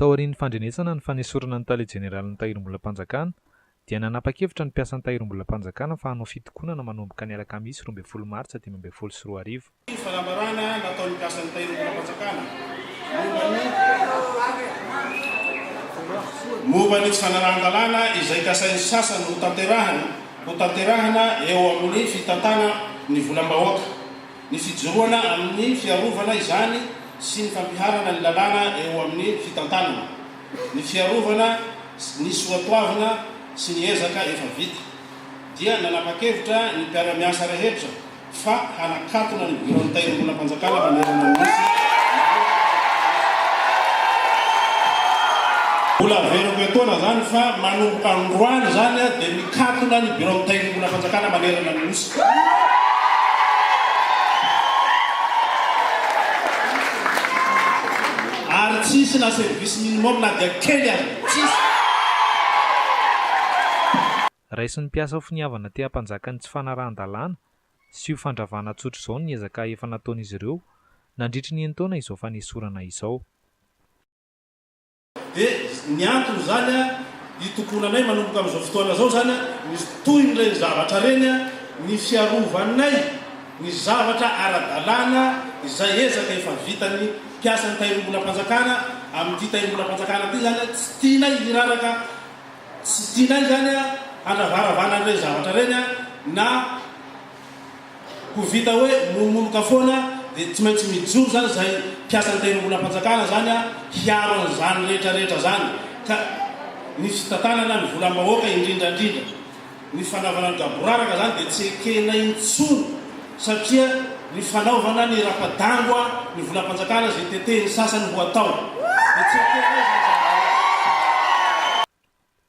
Taorian'ny fandrenesana ny fanesorana ny Tale Jeneralin'ny Tahirimbolam-panjakana, dia nanapa-kevitra ny mpiasan'ny Tahirimbolam-panjakana fa hanao fitokonana manomboka ny alakamisy roa ambin'ny folo martsa dimy ambin'ny folo sy roa arivo. Ny fanambarana nataon'ny mpiasan'ny Tahirimbolam-panjakana momba ny tsy fanarahan-dalàna izay kasain'ny sasany hotanterahina eo amin'ny fitantana ny volam-bahoaka Ny fijoroana amin'ny fiarovana izany sy ny fampiharana ny lalàna eo amin'ny fitantanana, ny fiarovana ny soatoavina sy ny ezaka efa vita, dia nanapa-kevitra ny mpiara-miasa rehetra fa hanakatona ny Biraon'ny Tahirimbolam-panjakana manerana ny Nosy manoloana ny Mbola averiko etoana izany fa manomboka androany izany dia mikatona ny Biraon'ny Tahirimbolam-panjakana manerana ny Nosy. Ary tsy hisy na service minimum na dia kely aza. Tsy hisy. Raisin'ny mpiasa ho finiavana te hampanjaka ny tsy fanarahan-dalàna sy io fandravana tsotra izao ny ezaka efa nataon'izy ireo nandritry ny enin-taona izao fanesorana izao. Dia ny antony izany hitokonanay manomboka amin'izao fotoana izao izany ny tohin'ireny zavatra ireny ny fiarovanay ny zavatra ara-dalàna izay ezaka efa vitan'ny mpiasan'ny Tahirimbolam-panjakana amin'ity Tahirimbolam-panjakana ity izany tsy tianay hiraraka tsy tianay izany handravaravana an'ireny zavatra ireny na Ko vita hoe monomonoka foana dia tsy maintsy mijoro zany zay mpiasan'ny tahirimbolam-panjakana zany a hiaro an'izany rehetra rehetra zany ka ny fitantanana ny volam-bahoaka indrindra indrindra ny fanaovana ny gaboraraka zany dia tsy ekena intsony satria ny fanaovana ny rapa-dangoa ny volam-panjakana zay tetehin'ny sasany ho atao dia tsy ekena izany zany.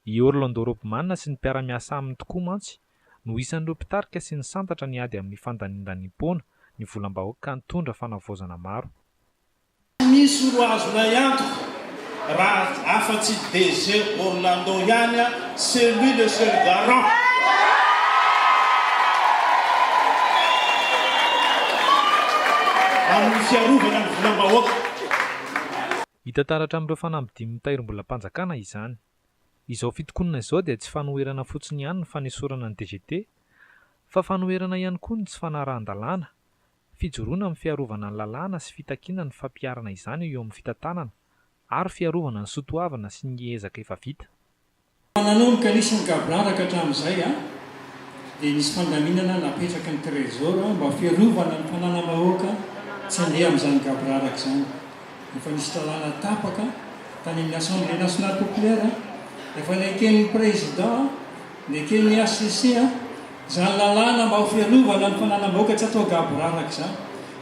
I Orlando Robman sy ny mpiara-miasa aminy tokoa mantsy no isan'ireo mpitarika sy nisantatra ny ady amin'ny fandanindaniam-poana ny volam-bahoaka ka nitondra fanavaozana maro. Tsy misy roa azonay antoka raha afa-tsy DG Orlando ihany a, c'est lui le seul garant. Amin'ny fiarovana ny volam-bahoaka. Hita taratra amin'ireo fanambidin'ny mitairimbolam-panjakana izany. Izao fitokonana izao dia tsy fanoherana fotsiny ihany ny fanesorana ny DGT, fa fanoherana ihany koa ny tsy fanarahan-dalàna, fijoroana amin'ny fiarovana ny lalàna sy fitakiana ny fampiharana izany eo amin'ny fitantanana ary fiarovana ny soatoavina sy ny ezaka efa vita. Fa nanao ny kalisa ny gaboraraka hatramin'izay an! Dia nisy fandaminana napetraky ny Trésor mba fiarovana ny mpanana-mahoaka tsy handeha amin'izany gaboraraka izany. Efa nisy lalàna tapaka tany amin'ny Assemblée Nationale Populaire, efa neken'ny Président, neken'ny HCC. Izany lalàna mba ho fiarovana ny fananam-bahoaka tsy atao gaboraraka izany.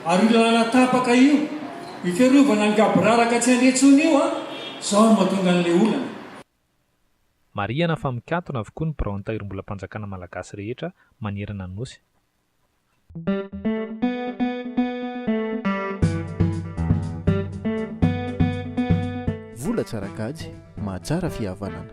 Ary io lalàna tapaka io, io fiarovana ny gaboraraka tsy handre intsony io an, izao no mahatonga an'ilay olana. Marihana fa mikatona avokoa ny biraon'ny Tahirimbolam-panjakana Malagasy rehetra manerana ny Nosy. Vola tsara kajy, mahatsara fihavanana.